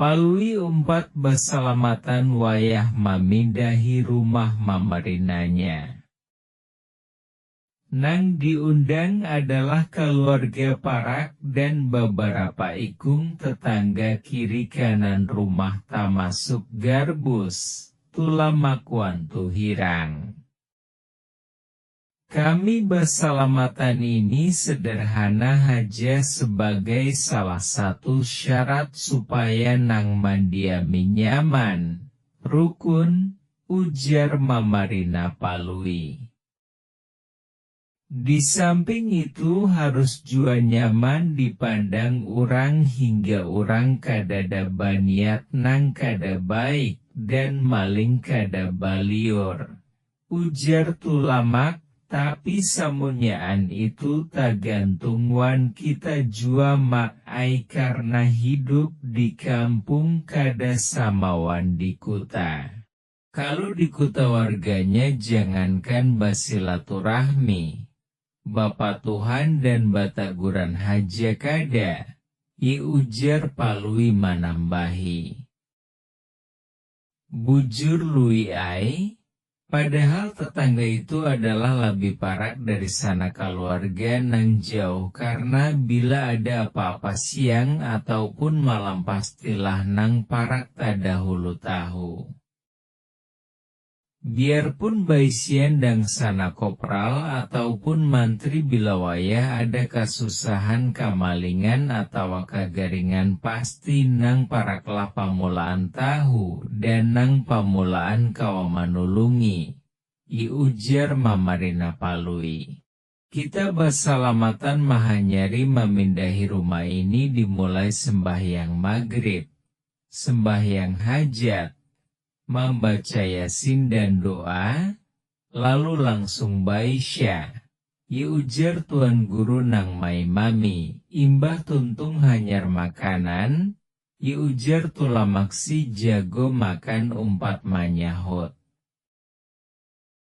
Palui umpat basalamatan wayah mamindahi rumah mamarinanya. Nang diundang adalah kaluarga parak dan babarapa ikung tetangga kiri kanan rumah tamasuk Garbus, Tulamak wan Tuhirang. Kami basalamatan ini sederhana haja sebagai salah satu syarat supaya nang mandiami nyaman, rukun, ujar Mamarina Palui. Di samping itu harus jua nyaman dipandang urang hingga urang kadada baniat nang kada baik dan maling kada baliur, Ujar Tulamak, tapi samunyaan itu tagantung wan kita jua Mak ai karna hidup di kampung kada sama wan di kuta. Kalu di kuta warganya jangankan basilaturahmi, bapatuhan dan bataguran haja kada y ujar Palui manambahi. Bujur Lui ai, padahal tetangga itu adalah labih parak dari sanak kaluarga nang jauh karna bila ada apa-apa siang ataupun malam pastilah nang parak tadahulu tahu. Biarpun baisian dangsana kopral ataupun mantri bila wayah ada kasusahan, kamalingan, atawa kagaringan pasti nang paraklah pamulaan tahu dan nang pamulaan kawa manulungi, i ujar Mamarina Palui. Kita basalamatan mahanyari mamindahi rumah ini dimulai sembahyang magrib, sembahyang hajat, mambaca yasin dan doa, lalu langsung baisya, ya ujar tuan guru nang maimami, imbah tuntung hanyar makanan, ya ujar Tulamaksi jago makan umpat manyahut.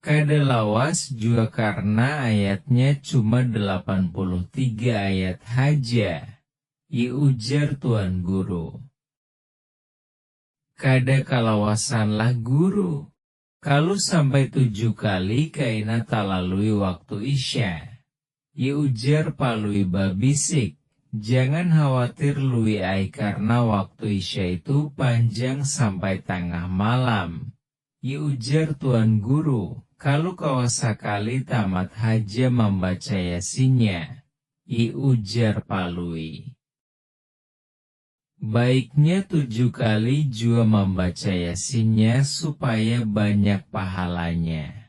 Kada lawas jua karna ayatnya cuma delapan puluh tiga ayat haja, y ujar tuan guru. Kada kalawasanlah guru, kalu sampai tujuh kali kaina talalui waktu isya, y ujar Palui babisik, jangan khawatir Lui ai karna waktu isya itu panjang sampai tangah malam, Yu ujar tuan guru, kalu kawa sakali tamat haja mambaca yasinnya, yu ujar palui. Baiknya tujuh kali jua mambaca yasinnya supaya banyak pahalanya.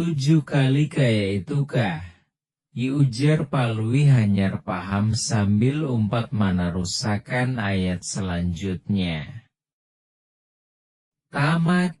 Tujuh kali kaya itu kah? I ujar Palui hanyar paham sambil umpat manarusakan ayat salanjutnya. Tamat!